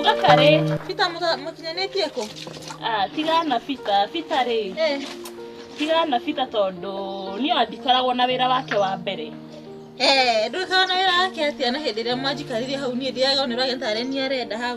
Uga karĩ. Bita mũkinyanĩtie kũ? Ah, tiga na bita, bita rĩ. Eh. Tiga na bita tondũ niĩ ndikoragwo na wĩra wake wa mbere. Eh, ndũkoragwo na wĩra wake atĩa na hĩndĩ ĩrĩa mwanjikarire hau niĩ ndiagĩrĩirwo nĩ ũragĩtarĩ niĩ arenda hau.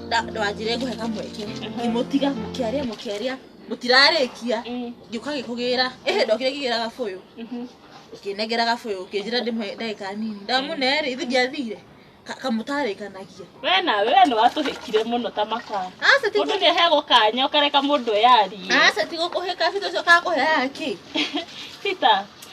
ndwanjire ngũhe kamweke ngĩmũtiga mũkĩaria mũkĩaria mũtirarĩkia ngĩũka gĩkũgĩra ehe ndokire ngĩgĩra gabũyũ ngĩnengera gabũyũ ngĩnjĩra ndĩmwe ndagĩka nini ndamunere ithu ndiathire Ka- kamũtarĩkanagia we nawe we nĩ watũhĩkire mũno ta makara aca ti mũndũ nĩ aheagwo kanya ũkareka mũndũ eyarie aca ti gũkũhĩka bita ũcio kakũheaga kĩ peter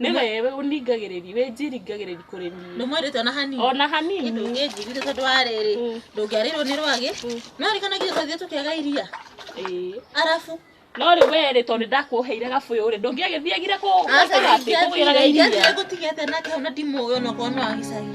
nĩ wewe ũningagĩrĩri wĩnjiringagĩrĩri kũrĩ niĩ ndũmwendete ona hanini ona hanini kĩndũ ũngĩnjirire tondũ wa rĩrĩ Mm. ndũngĩarĩrwo nĩ rwagĩ no rĩkanagire twathiĩ tũkĩaga iria Ĩĩ. arabu no rĩ we rĩ tondũ ndakuoheire gabũyũ rĩ ndũngĩagĩthiagire kũ- gũikara atĩ kũgĩraga iria gũtigete nake hau na ndimũĩ onokorwo no agicagi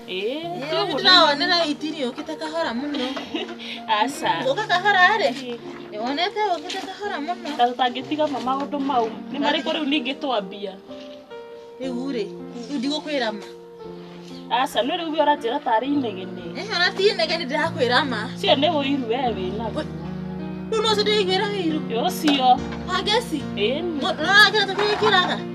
Nĩwe ndĩrawonera itiri ũkĩte kahora mũno. Aca. Ũka kahora rĩ? Nĩwonete ũkĩte kahora mũno. Ta tũtangĩtiga ma maũndũ mau. Nĩ marĩkũ rĩu ningĩ twambia? Rĩu rĩ, rĩu ndigũkwĩra ma. Aca, nĩ rĩu ũguo ũranjĩra tarĩ inegene. Ĩ ona ti inegene ndĩrakwĩra ma. Ũcio nĩ ũiru we wĩnaguo. Rĩu nĩ ũcio ndĩraiguĩra ũiru. Ũcio. Wa ngeci? Ĩni. Ũrona kĩrĩa tũgĩkĩraga?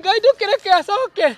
Ngai ndũkĩreke acoke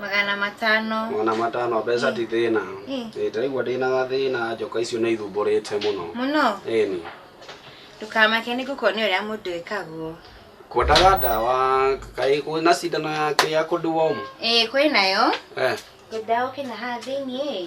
magana matano magana matano mbeca ti thĩna Mm. Ĩĩ, ndĩraigua ndĩna gathĩna njoka icio nĩ ithumbũrĩte mũno mũno ĩni ndũkamake nĩ gũkuonia ũrĩa mũndũ ĩkagwo kwendaga ndawa kaĩ kwĩ na cindano yake ya kũnduomu ĩĩ kwĩ nayo eh ngwendaga ũkĩna haha thĩiniĩ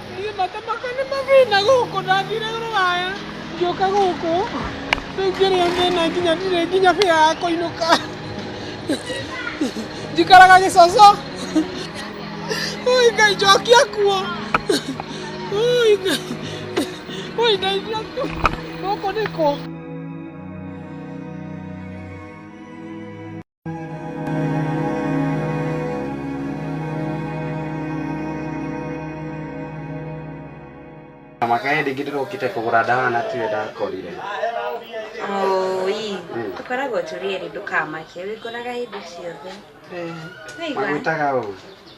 Niĩ matamaka nĩ mathĩna gũkũ ndathire rũraya ngĩũka gũkũ rĩu ngĩrĩa mĩna nginya ndirĩ nginya bĩa ya kũinũka njikaraga gĩcoco ũi ngai njokia kuo ũi ngai ũi ndeithia tu gũkũ nĩkũ Na mwaka ĩrĩ ngĩ ndĩrokite kũgũra ndawa na tiwe ndakorire Oi, Mm. tũkoragwo tũrĩ erĩ ndũkamake, wĩkoraga hĩndĩ ciothe. Waigua? magwĩtaga ũũ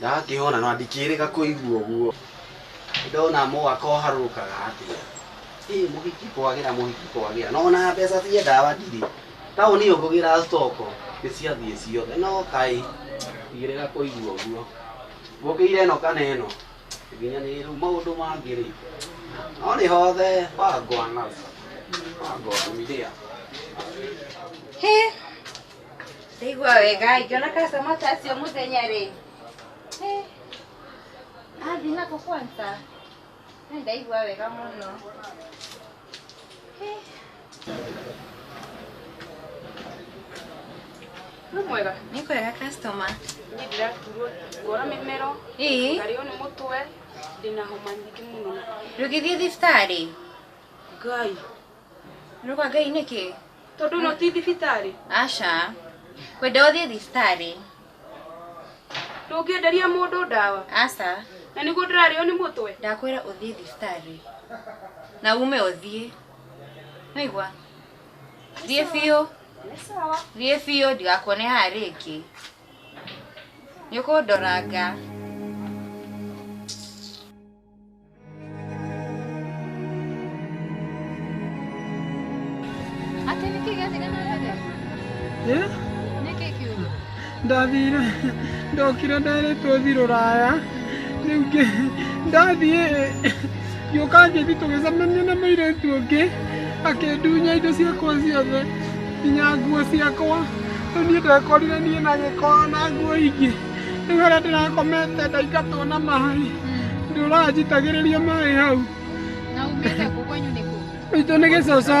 ndakĩona na ndikĩrĩga kũigua ũguo ndona mwaka ũharũrũkaga atĩa ĩ mũhiki kwagĩra mũhiki kwagĩra no na mbeca cia ndawa ndirĩ taũni ĩyo ngũgĩra stoko nĩ ciathiĩ ciothe no kaĩ ndigĩrĩga kũigua ũguo ngũkĩire ĩno kana ĩno nginya nĩ rĩu maũndũ mangĩ rĩ no nĩ hothe wangwana wangwana mĩrĩa Hĩ! ndaigua wega ingĩona customer ta acio mũthenya rĩ Eh, athi nako kwanza Eh, ndaigua wega mũno Eh. Nĩ mwega. nĩ kwega customer Niĩ ndĩraturwo ngora mĩmero, ĩĩ ngarĩo nĩ mũtwe, ndĩna homa nyingĩ mũno. ndũgĩthiĩ thibitarĩ Ngai, Nĩũka ngai nĩkĩ? Tondũ no ti thibitarĩ. Aca. Kwenda ũthiĩ thibitarĩ. Ndũngĩenderia mũndũ ndawa. Aca. Na nĩguo ndĩrarĩo nĩ mũtwe. Ndakwĩra ũthiĩ thibitarĩ. Na ume ũthiĩ. Nĩigua? Thiĩ biũ. Thiĩ biũ ndigakuone haha rĩngĩ. Nĩũkũndoranga. Atĩ nĩkĩ gĩathire na mbere? Ĩ, Nĩkĩ kiugo? ndathire ndokire nderĩtwo thi rũraya rĩu ngĩ- ndathiĩ gĩũka ngĩthi tũgĩcemania na mũirĩtu ũngĩ akĩndunya indo ciakwa ciothe nginya nguo ciakwa rĩu niĩ ndekorire niĩ na gĩko na nguo ingĩ rĩu harĩa ndĩrakomete ndaingatwo na maĩ nĩ ũranjitagĩrĩria maĩ hau Na umĩte kũ kwenyu nĩ kũ? itũ nĩ gĩcoco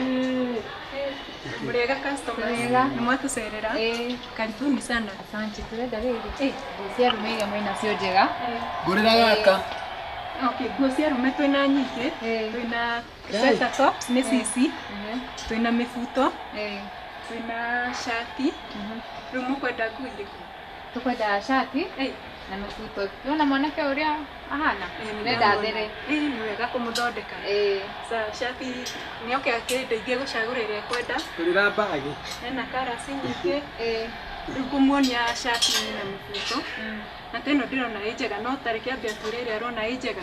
Eh, Murega customer. Murega. Nimwatucerera. Eh, karibuni sana. Asante, turenda rĩrĩ. Eh, nguo cia rume iria mwĩ nacio njega. ngũrĩra gaka Okay, nguo cia rume twĩna nyingĩ. Eh. Twĩna Guys. sweater top, nĩ cici. Mhm. Twĩna mĩbuto. Eh, Twĩna shati. mhm. Rĩu mũkwenda nguo irĩkũ? Tũkwendaga cati na mabuto. Nĩwona mwanake ũrĩa ahana? Nenda thĩre. Ĩ nĩ wega kũmũthondeka. Ĩĩ. Sa cati nĩ oke akĩndeithie gũcagũra ĩrĩa ekwenda. Hũrĩra mbagi. Hena karasi nyingĩ. Ĩĩ. Rĩu ngũmuonia cati na mũbuto. Na ta ĩno ndĩrona ĩ njega no ta reke ambe atwĩre ĩrĩa arona ĩ njega.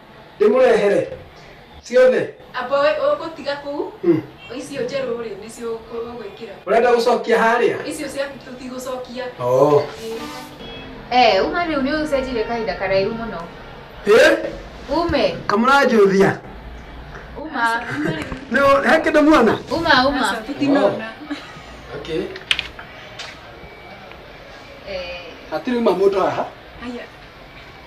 ndĩmũrehere ciothe amba we- ũgũtiga kũu Hmm. icio njerũ rĩ nĩcio ũgwĩkĩra ũrenda gũcokia harĩa icio ciaku tũtigũcokia oh. Eh, uma rĩu nĩ ũcenjire kahinda karaihu mũno Eh, ume kamũranjũthia uma Nĩ- he kĩndũ muona uma uma tũtinona okay. Eh, hatirĩ uma mũndũ haha aya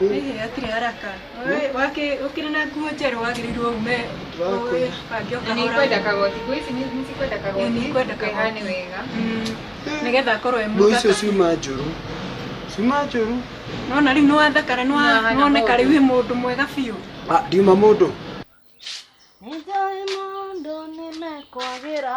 Ĩhĩ hatirĩ haraka. Wee, wakĩ- ũkĩrĩ na nguo njerũ wagĩrĩirwo ume Ndĩrakũhe. ũbange Na nĩ ikwenda ũkahora. kagoti ngũ ici nĩ- nĩcikwenda Ĩĩ, kagoti nĩikwenda kagoti. kahane wega Mm, nĩgetha akorwo e Nguo icio mũthaka. ciuma njũru. Ciuma njũru. Nĩwona rĩu nĩwathakara nĩwa- Nĩwahana nĩwoneka mũndũ. rĩu wĩ mũndũ mwega biũ. Ah, ndiuma mũndũ. Nĩnjũĩ maũndũ nĩmekwagĩra.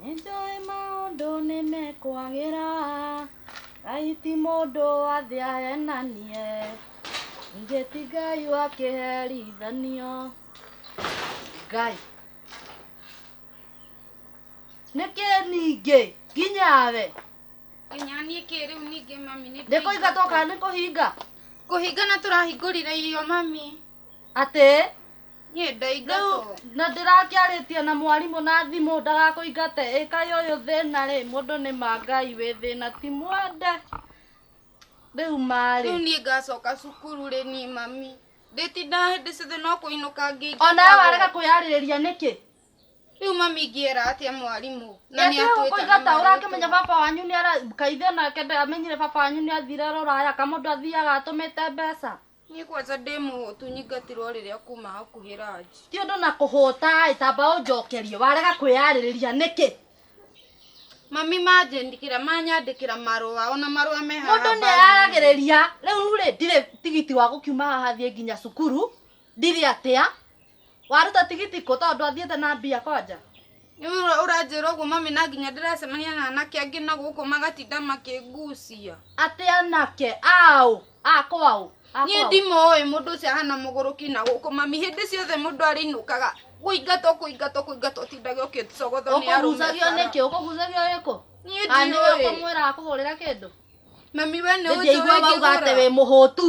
Nĩ njũĩ maũndũ nĩ mekwagĩra, Ngai ti mũndũ wa thĩ ahenanie, ningĩ ti Ngai wa kĩherithanio. Ngai. Nĩkĩ ningĩ nginya we? nginya niĩ kĩ rĩu ningĩ mami nĩ Nĩ kũhinga twoka nĩ kũhinga? kũhingana tũrahingũrire irio mami Atĩ niĩ ndaingatwo na ndĩrakĩarĩtie na mwarimũ na thimũ ndagakũingate ĩkai ũyũ thĩna rĩ mũndũ nĩ mangai wĩ thĩna ti mwende rĩu marĩ rĩu niĩ ngacoka cukuru rĩ niĩ mami ndĩtindaga hĩndĩ ciothe no kũinũka ngĩingatagwo ona we warega kwĩyarĩrĩria nĩkĩ rĩu mami ingĩera atĩa mwarimũ na nĩ atwĩta na kũingata marĩtwa. ũrakĩmenya baba wanyu nĩ ara kaithe nake ndamenyire baba wanyu nĩ athire rũraya kamũndũ athiaga atũmĩte mbeca Niĩ kwanja ndĩ mũhũtu nyingatirwo rĩrĩa kuma hakuhĩ ranji. Ti ũndũ na kũhũta ĩ tamba ũnjokerie warega kwĩyarĩrĩria nĩkĩ? Mami manjĩndĩkĩra manyandĩkĩra marũa ona marũa me haha. Mũndũ nĩ aragĩrĩria rĩu rĩ ndirĩ tigiti wa gũkiuma haha thiĩ nginya cukuru ndirĩ atĩa waruta tigiti kũ tondũ athiĩte na mbia kwanja Nĩũra- ũranjĩra ũguo mami na nginya ndĩracemania na anake angĩ na gũkũ magatinda makĩngucia atĩ anake aũ akwaũ niĩ ndimũĩ mũndũ ũcio ahana mũgũrũki na gũkũ mami hĩndĩ ciothe mũndũ arĩinũkaga kũingatwo kũingatwo kũingatwo ũtindaga ũkĩcogotho nĩ arũme ũkũgucagio bara. nĩkĩ ũkũgucagio gĩkũ niĩ Aya nĩwe ndiũĩ ũkũmwĩra akũhũrĩra kĩndũ mami we nĩ ũnjũĩ ndĩngĩigua wauga atĩ wĩ mũhũtu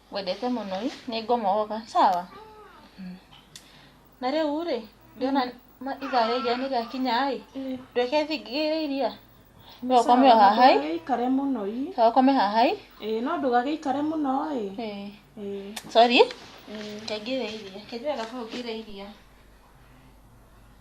Ngwendete mũno i, nĩ ngũmũoga, sawa? Na rĩu rĩ, ndĩrona ma- ithaa rĩa iria nĩ rĩakinya ĩ, ndwĩke thingigĩ ya iria? No ũkome o haha ĩ, Ndũgagĩikare mũno i. sawa ũkome haha ĩ. Ĩĩ, no ndũgagĩikare mũno ĩ. Ĩĩ. Ĩĩ. Sorry, reke ngĩre iria. Reke njoe gabuyu ngĩre iria.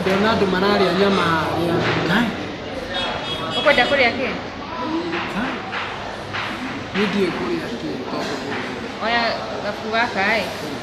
Ndona andũ mararĩa nyama ya ngai. Ũkwenda kũrĩa kĩ? Niĩ ndiũĩ kũrĩa kĩ tondũ Oya gabu gaka ĩ.